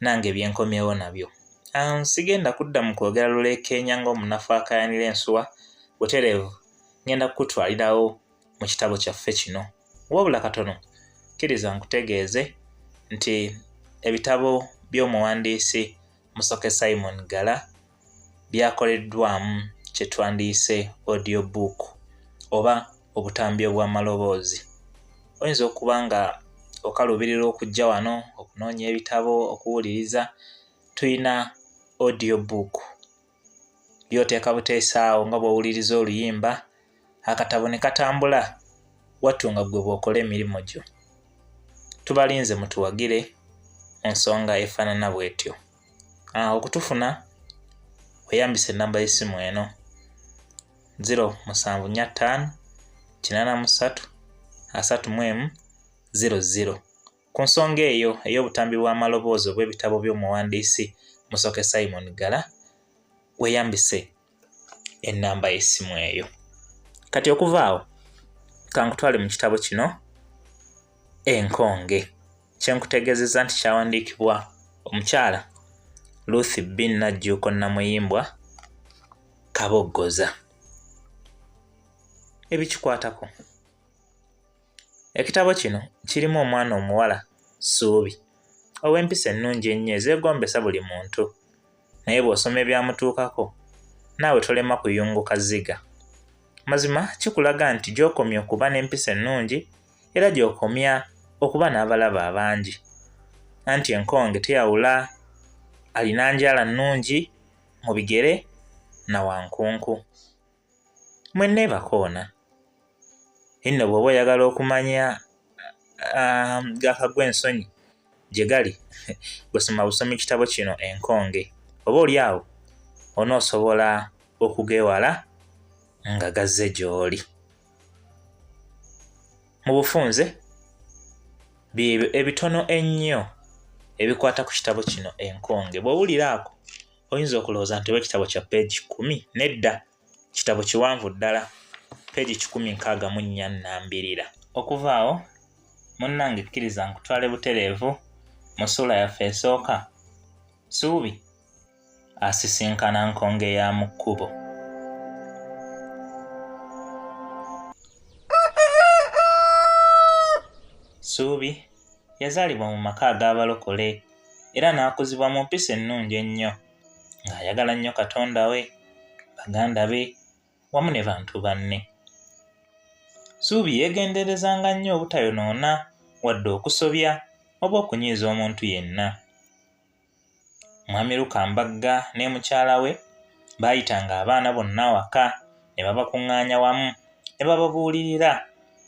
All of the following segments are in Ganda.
nange byenkomyewo nabyo um, sigenda kudda mu kwogera lulekeenya ng'omunafu akayanira ensuwa butereevu ngenda kukutwalirawo mu kitabo kyaffe kino wabula katono kkiriza nkutegeeze nti ebitabo by'omuwandiisi musoke simon gala byakoleddwamu kye twandiyise audio book oba obutambi obw'amaloboozi oyinza okuba nga okaluubirira okujja wano okunoonya ebitabo okuwuliriza tulina audio book byoteeka buteesaawo nga bw'owuliriza oluyimba akatabo ne katambula wattu nga ggwe bw'okola emirimu gyo tubalinze mutuwagire mu nsonga efaanana bw'etyo ah, okutufuna weyambisa ennamba y'essimu eno 0745 83 31 00 ku nsonga eyo ey'obutambi bw'amaloboozi obw'ebitabo by'omuwandiisi musoke simon gala weyambise enamba y'essimu eyo kati okuva awo kankutwale mu kitabo kino enkonge kyenkutegeezeza nti kyawandiikibwa omukyala luth bin najjuuko namuyimbwa kaboggoza ebikikwatako ekitabo kino kirimu omwana omuwala suubi ow'empisa ennungi ennyo ezeegombesa buli muntu naye bw'osoma ebyamutuukako naawe tolema kuyunguka zziga mazima kikulaga nti gy'okomya okuba n'empisa ennungi era gy'okomya okuba n'abalaba abangi anti enkonge teyawula alina njala nnungi mu bigere na wankunku mwe nebakoona inno bwoba oyagala okumanya um, gakagwa ensonyi gye gali gwesoma busomi kitabo kino enkonge oba oli awo onoosobola okugewala nga gazze gy'oli mu bufunze byebyo ebitono ennyo ebikwata ku kitabo kino enkonge bw'owuliraako oyinza okulowooza nti oba ekitabo kya peegi kumi nedda kitabo kiwanvu ddala peegi kikumi nkaaga mu nnya nnambirira okuva awo munnange kkiriza nkutwale butereevu mu ssuula yaffe esooka suubi asisinkana nkonge ya mu kkubo suubi yazaalibwa mu maka ag'abalokole era n'akuzibwa mu mpisa ennungi ennyo ng'ayagala nnyo katonda we baganda be wamu ne bantu banne suubi yeegenderezanga nnyo obutayonoona wadde okusobya oba okunyiiza omuntu yenna mwami lukambagga ne mukyala we baayitanga abaana bonna waka ne babakuŋŋaanya wamu ne bababuulirira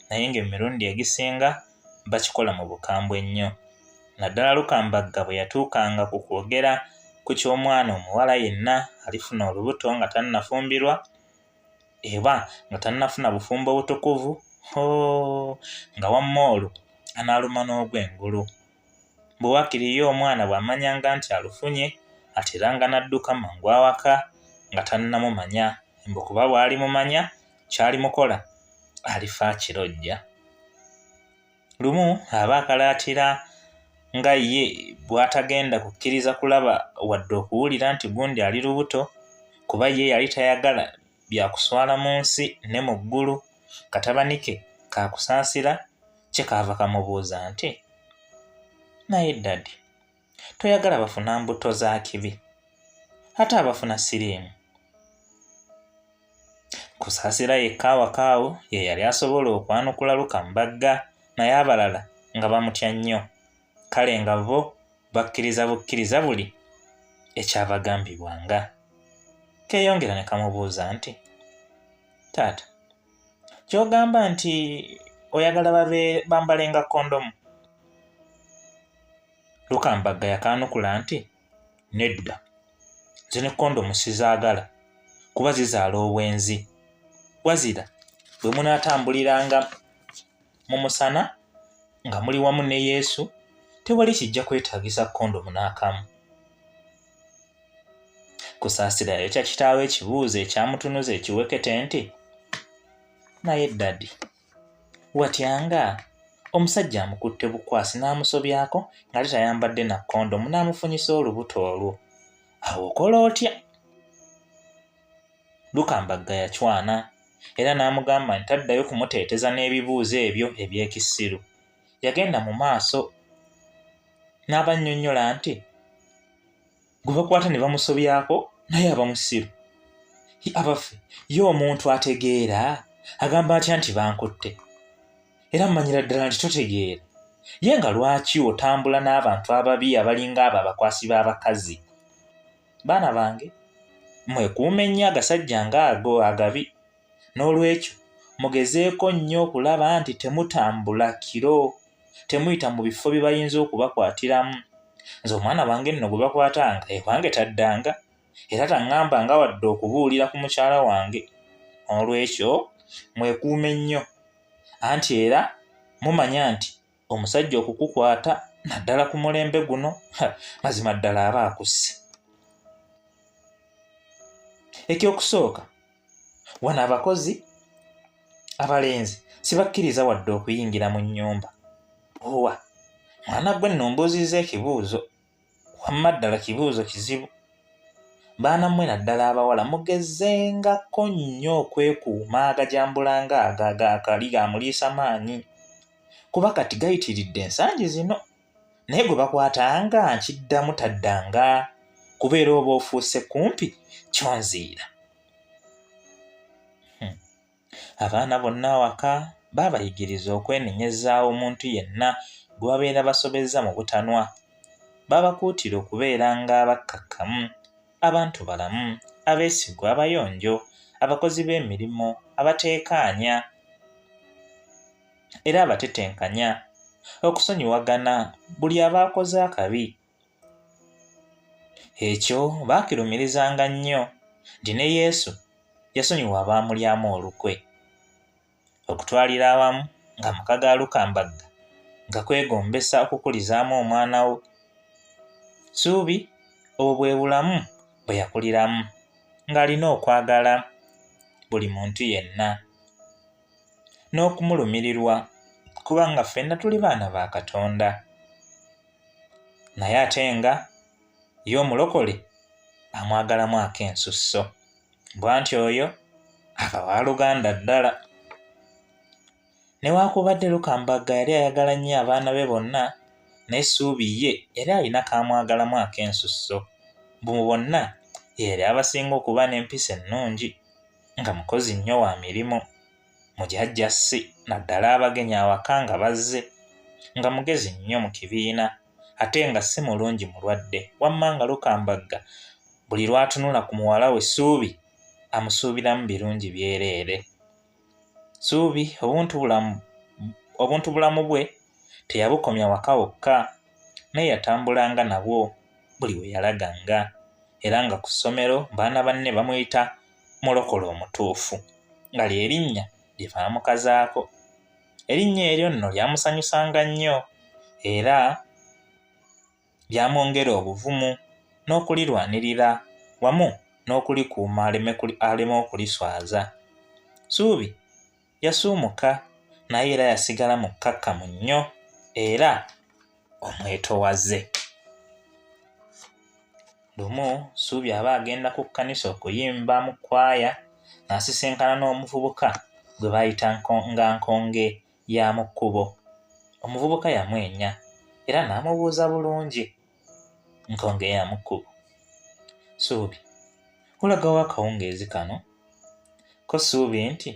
naye ng'emirundi egisinga bakikola mu bukambwe nnyo naddala lukambagga bwe yatuukanga ku kwogera ku ky'omwana omuwala yenna alifuna olubuto nga tannafumbirwa eba nga tannafuna bufumbo butukuvu hoo nga wamma olwo anaaluma n'ogw'engulu bwe wakiri ye omwana bw'amanyanga nti alufunye ateranga n'adduka mangu awaka nga tannamumanya mbu kuba bw'alimumanya kyali mukola alifa kirojja lumu aba akalaatira nga ye bw'atagenda kukkiriza kulaba wadde okuwulira nti gundi ali lubuto kuba ye yali tayagala bya kuswala mu nsi ne mu ggulu katabani ke ka kusaasira kye kaava kamubuuza nti naye ddadi toyagala bafuna mbuto za kibi ate abafuna siriimu kusaasira yekka awakaawo ye yali asobola okwanukula luka mbagga naye abalala nga bamutya nnyo kale nga bo bakkiriza bukkiriza buli ekyabagambibwanga keeyongera ne kamubuuza nti taata kyogamba nti oyagala babe bambalenga kondomu lukambagga yakaanukula nti nedda nze ne kondomu sizaagala kuba zizaala obwenzi wazira bwe munaatambuliranga mu musana nga muli wamu ne yesu tewali kijja kwetaagisa kondomu n'akamu kusaasira yayokya kitaawo ekibuuzo ekyamutunuza ekiwekete nti naye ddadi watyanga omusajja amukutte bukwasi n'amusobyako ng'ate tayambadde na kondomu n'amufunyisa olubuto olwo awo okola otya lukambagga yacwana era n'amugamba nti taddayo kumuteeteza n'ebibuuzo ebyo eby'ekisiru yagenda mu maaso n'abannyonnyola nti gwe bakwata ne bamusobyako naye aba musiru abaffe ye omuntu ategeera agamba atya nti bankutte era mumanyira ddala nti totegeera ye nga lwaki otambula n'abantu ababi abalinga abo abakwasi b'abakazi baana bange mwekuume nnyo agasajja ngaago agabi N'olwekyo, mugezeeko nnyo okulaba nti temutambula kiro, temuyita mu bifo bye bayinza okubakwatiramu. Nze omwana wange nno gwe bakwatanga ewange taddanga era taŋŋambanga wadde okubuulira ku mukyala wange. N'olwekyo, mwekuume nnyo, anti era mumanya nti omusajja okukukwata naddala ku mulembe guno mazima ddala aba akusse ekyokusooka wano abakozi abalenzi sibakkiriza wadde okuyingira mu nnyumba owa mwana gwe nno mbuuzizza ekibuuzo wamma ddala kibuuzo kizibu baana mmwe naddala abawala mugezengako nnyo okwekuuma agajambulanga ago agakali gamuliisa maanyi kuba kati gayitiridde ensangi zino naye gwe bakwatanga nkiddamu taddanga kubeera oba ofuuse kumpi kyonziira Abaana bonna awaka baabayigiriza okwenenyezaawo omuntu yenna gwe babeera basobezza mu butanwa. Baabakuutira okubeera ng'abakkakkamu, abantu balamu, abeesigwa, abayonjo, abakozi b'emirimu, abateekaanya era abatetenkanya, okusonyiwagana buli aba akoze akabi Ekyo baakirumirizanga nnyo nti ne Yesu yasonyiwa abaamulyamu olukwe. Okutwalira awamu ng'amaka ga Lukambagga nga kwegombesa okukulizaamu omwana wo Ssuubi obwo bwe bulamu bwe yakuliramu ng'alina okwagala buli muntu yenna n'okumulumirirwa kubanga ffenna tuli baana ba Katonda. naye ate nga ye omulokole amwagalamu ak'ensusso bwanti oyo akawa luganda ddala newaakubadde lukambagga yali ayagala nnyo abaana be bonna naye suubi ye yali alina kaamwagalamu ak'ensusso mbu mu bonna yeyali abasinga okuba n'empisa ennungi nga mukozi nnyo wa mirimu mu jajja si naddala abagenyi awaka nga bazze nga mugezi nnyo mu kibiina ate nga si mulungi mulwadde wamma nga lukambagga buli lwatunula ku muwala we suubi amusuubiramu birungi byereere suubi obuntu bulamu bwe teyabukomya waka wokka naye yatambulanga nabwo buli we yalaganga era nga ku ssomero baana banne bamuyita mulokole omutuufu nga lye linnya lye baamukazaako. Erinnya eryo nno lyamusanyusanga nnyo era lyamwongera obuvumu n'okulirwanirira wamu n'okulikuuma aleme okuliswaza. Ssuubi. yasuumuka naye era yasigala mukkakkamu nnyo era omwetowaze lumu suubi aba agenda ku kkanisa okuyimba mu kwaya n'asisinkana n'omuvubuka gwe bayita nga nkonge ya mu kkubo omuvubuka yamwenya era n'amubuuza bulungi ntonga eya mu kkubo suubi kulagawo akawungeezi kano ko suubi nti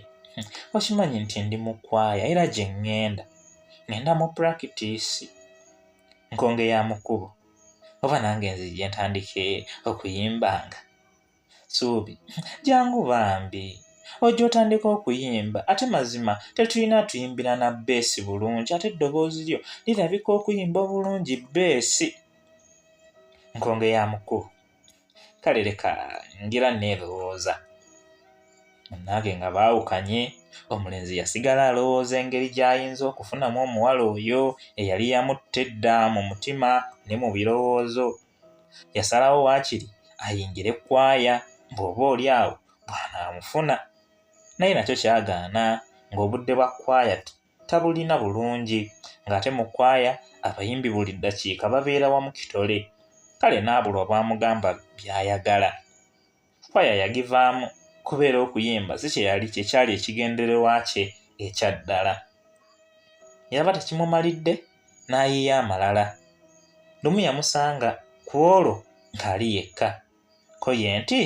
okimanyi nti ndi mu kwaya era gye ŋŋenda ŋŋenda mu purakitiisi nkonge ya mu kkubo oba nange nzijje ntandike okuyimbanga suubi jangu bambi ojja otandika okuyimba ate mazima tetulina tuyimbira na beesi bulungi ate eddoboozi lyo lirabika okuyimba obulungi beesi nkonge ya mukulu kale leka ngira neerowooza munange nga baawukanye omulenzi yasigala alowooza engeri gy'ayinza okufunamu omuwala oyo eyali yamutte dda mu mutima ne mu birowoozo Yasalawo waakiri ayingire ekkwaya bw'oba oli awo bw'anaamufuna. Naye nakyo kyagaana ng'obudde bwa kkwaya tabulina bulungi ng'ate mu kkwaya abayimbi buli ddakiika babeera wamu kitole kale n'abulwa bw'amugamba by'ayagala. kwaya yagivaamu kubeera okuyimba si kye yali kye kyali ekigendererwa kye ekya ddala yaba tekimumalidde n'ayiiya amalala lumu yamusanga ku olwo ng'ali yekka ko ye nti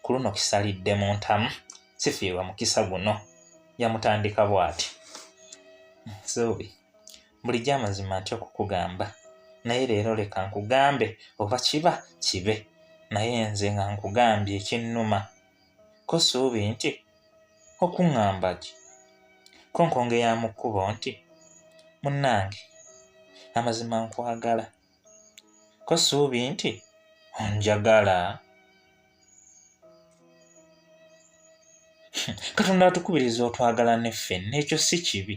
ku luno kisalidde mu ntamu sifiirwa mukisa guno yamutandika bw'ati nsobi bulijjo amazima ntya okukugamba naye leero leka nkugambe oba kiba kibe naye nze nga nkugambye ekinnuma ko suubi nti okuŋŋamba ki ko nkongeyamu kkubo nti munnange amazima nkwagala ko suubi nti onjagala katonda atukubiriza otwagala ne ffe n'ekyo si kibi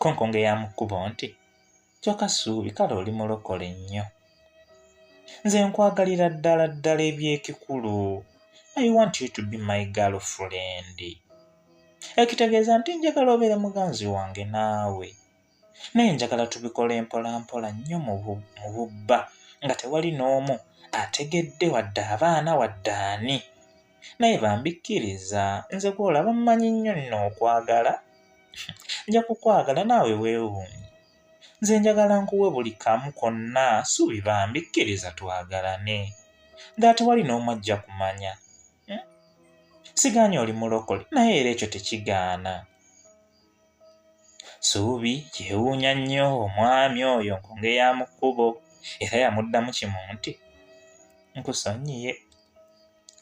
konkonga eyamukkubo nti kyoka suubi kale oli mulokole nnyo nze nkwagalira ddala ddala eby'ekikulu i want you to be my girl friend ekitegeeza nti njagala obeere muganzi wange naawe naye njagala tubikole mpolampola nnyo mu bubba nga tewali n'omu ategedde wadde abaana wadde ani naye bambikkiriza nze gwolaba mmanyi nnyo nno okwagala nja kukwagala naawe weewuunye nze njagala nkuwe buli kamu konna suubi bambikkiriza twagalane nga tewali n'omu ajja kumanya hmm? sigaanyi oli mulokole naye era ekyo tekigaana Suubi kyewuunya nnyo omwami oyo nkonge ya mu kkubo era yamuddamu kimu nti nkusonyiye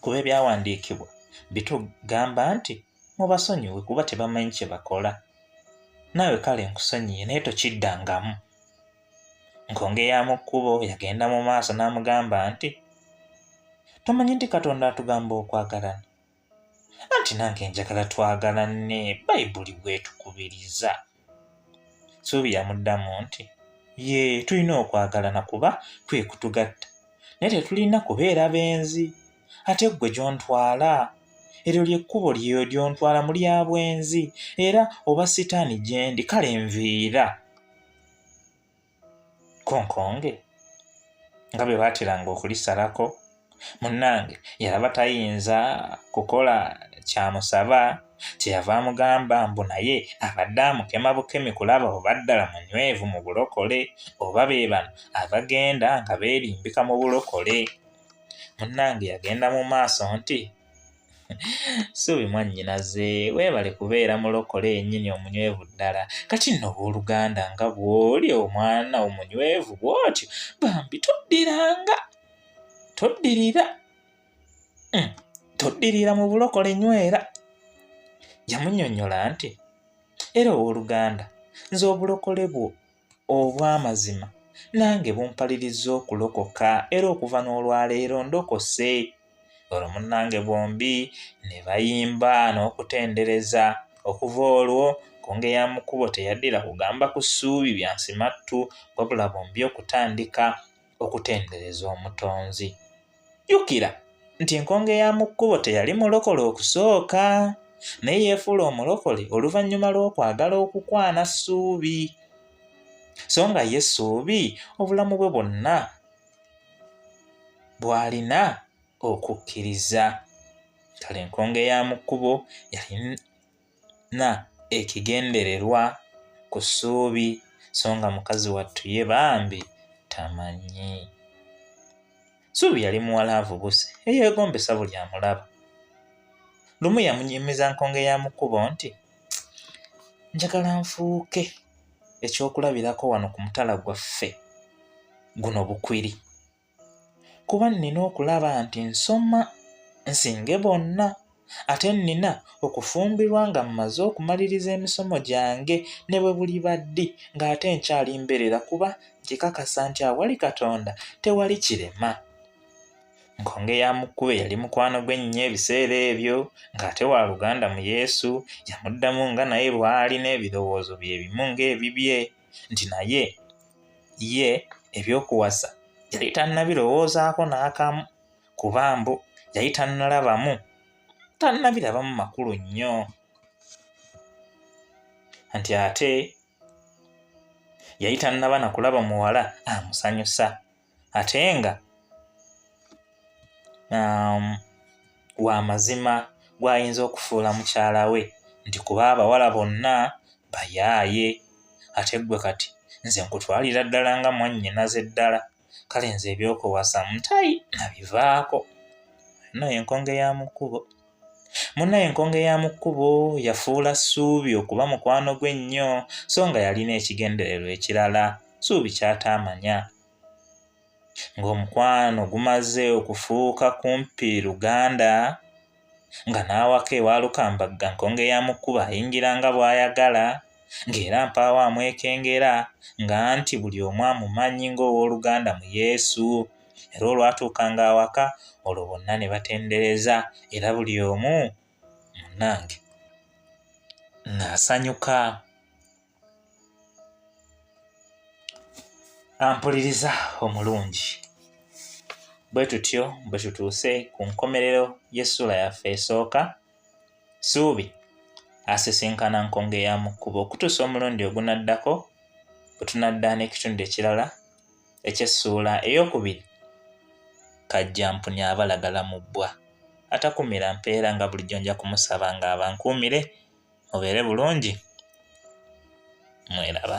kuba ebyawandiikibwa bitugamba nti mubasonyiwe kuba tebamanyi kye bakola naawe kale nkusonyiye naye tokiddangamu nkonge ya mu kkubo yagenda mu maaso n'amugamba nti tomanyi nti katonda atugamba okwagalana anti nange njagala twagala ne bayibuli bwetukubiriza suubi yamuddamu nti ye tulina okwagalana kuba kwe kutugatta naye tetulina kubeera benzi ate ggwe gyontwala eryo lyekkubo lyeyo lyontwala mu lya bwenzi era oba sitaani gyendi kale nviira konkonge nga bwe baateranga okulisalako munnange yalaba tayinza kukola kyamusaba kyeyava amugamba mbu naye abadde amukema bukemi kulaba oba ddala munywevu mu bulokole oba be bano abagenda nga beerimbika mu bulokole munnange yagenda mu maaso nti suubi mwannyinaze weebale kubeera mulokole yennyini omunywevu ddala kati nno owooluganda nga bw'oli omwana omunywevu bw'otyo bambi toddiranga toddirira hmm, toddirira mu bulokole nywera yamunyonyola nti era owooluganda nze obulokole bwo obw'amazima nange bumpalirizza okulokoka era okuva n'olwaleero ndokose olwo munnange bombi ne bayimba n'okutendereza okuva olwo kunge ya mukubo teyaddira kugamba ku ssuubi bya nsimattu wabula bombi okutandika okutendereza omutonzi jjukira nti enkonge ya mu kkubo teyali mulokole okusooka naye yeefuula omulokole oluvannyuma lw'okwagala okukwana ssuubi so nga ye ssuubi obulamu bwe bwonna bw'alina okukkiriza kale enkonge ya mu kkubo yali na ekigendererwa ku ssuubi so nga mukazi wattu ye bambi tamanyi suubi yali muwala avubuse eyeegombesa buli amulaba lumu yamunyumiza nkonge ya mu kkubo nti njagala nfuuke ekyokulabirako wano ku mutala gwaffe guno bukwiri kuba nnina okulaba nti nsoma nsinge bonna ate nnina okufumbirwa nga mmaze okumaliriza emisomo gyange ne bwe buli baddi ng'ate nkyali mbeerera kuba nkikakasa nti awali katonda tewali kirema nkonge ya mukube yali mukwano gwe nnyo ebiseera ebyo ng'ate wa luganda mu yesu yamuddamu nga naye lwali n'ebirowoozo bye bimu ng'ebibye nti naye ye ebyokuwasa yali tannabirowoozaako n'akamu kuba mbu yali tannalabamu tannabirabamu makulu nnyo nti ate yali tannaba na kulaba muwala amusanyusa ate nga um, wa mazima gw'ayinza okufuula mukyala we nti kuba abawala bonna bayaaye ate ggwe kati nze nkutwalira ddala nga mwannyinaze ddala kale nze ebyokuwasa mutayi nabivaako naye enkonge ya mu kkubo Munnaye enkonge ya mu kkubo yafuula Ssuubi okuba mukwano gwe ennyo so nga yalina ekigendererwa ekirala Ssuubi ky'ataamanya. Ng'omukwano gumaze okufuuka kumpi luganda, nga n'awaka ewa Lukambagga nkonge ya mu kkubo ayingira nga bw'ayagala, ng'era mpaawo amwekengera nga nti buli omu amumanyi ng'ow'oluganda mu Yesu. era olwatuukanga awaka olwo bonna ne batendereza era buli omu munnange ng'asanyuka ampuliriza omulungi bwe tutyo bwe tutuuse ku nkomerero y'essuula yaffe esooka suubi asisinkana nkonge ya mu kkubo okutuusa omulundi ogunaddako bwe tunadda n'ekitundu ekirala ekyessuula ey'okubiri kajja mpuni abalagala mu bbwa atakumira mpeera nga bulijjo nja kumusaba nga abankuumire mubeere bulungi mweraba